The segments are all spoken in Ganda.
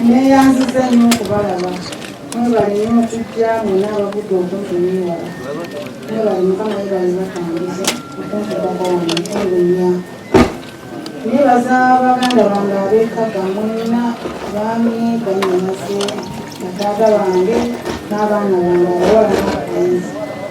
neyanziza nnyo okubalaba mwebale nyo okujja mwena abagudde okuntumiwala mwebale mukama webale batambuza okuntubaga wano olunya nebaza baganda bange abekaga mwena baami banyamaze nataata bange n'abaana bange abawala n'abalenzi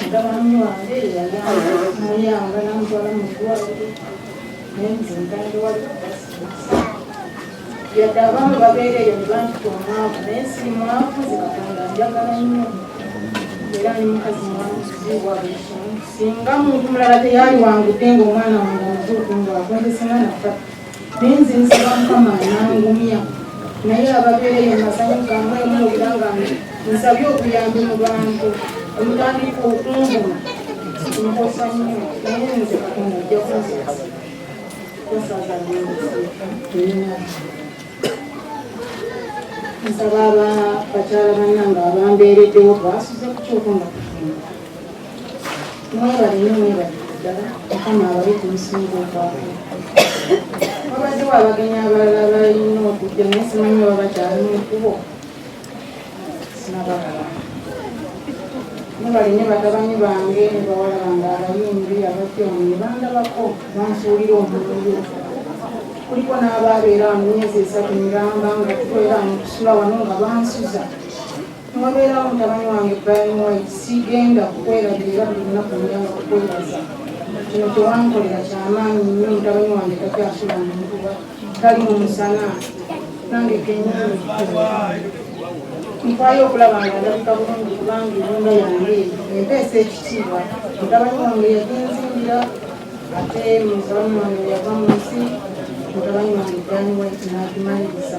Mutabani wange yayamba namutwala mu ddwaliro naye nze ntande waliwo yadde abamu babeera eyo ne bantita omwavu naye si mwavu zikatonda njagala nnyo era ni mukazi mwamuziwa buli kimu singa muntu mulala teyaliwangudde ng'omwana wange omuzuuku ng'akwendesena nafa naye nze nsaba mukama nangumya naye ababeereyo masanyu gamwe muwulira nga nsabye okuyambi mu bantu omutandika okunguma nkosa nnyo naye nze katonda ajja kunzikasa kusaza nsaba bakyala banange abambeereddewo basuze ku kyokonga mwebale nyo mwebale ddala mukama abawe ku musingi ogwako wabaddewo abagenyi abalala balina okujja naye simanyi oba bakyali mu kubo sinabalaba mwebale nyo bagabanyi bange ne bawala bange abayimbi abatyomu ne bandabako bansuulira omululu kuliko n'abaabeera mu myezi esatu miramba nga tukolera mu kusula wano nga bansuza Newabeerawo mutabani wange Brian White, sigenda kukwerabira era buli lunaku njanga kukwebaza. Kino kyewankolera kyamaanyi nnyo. Mutabani wange takyasula mu nkuba, tali mu musana, nange kenyini nfaayo okulaba nga ndabika bulungi kubanga ennyumba yange empeesa ekitiibwa. Mutabani wange yaginzimbira ate mutabani wange yava mu nsi mutabani wange Brian White n'agimaliriza.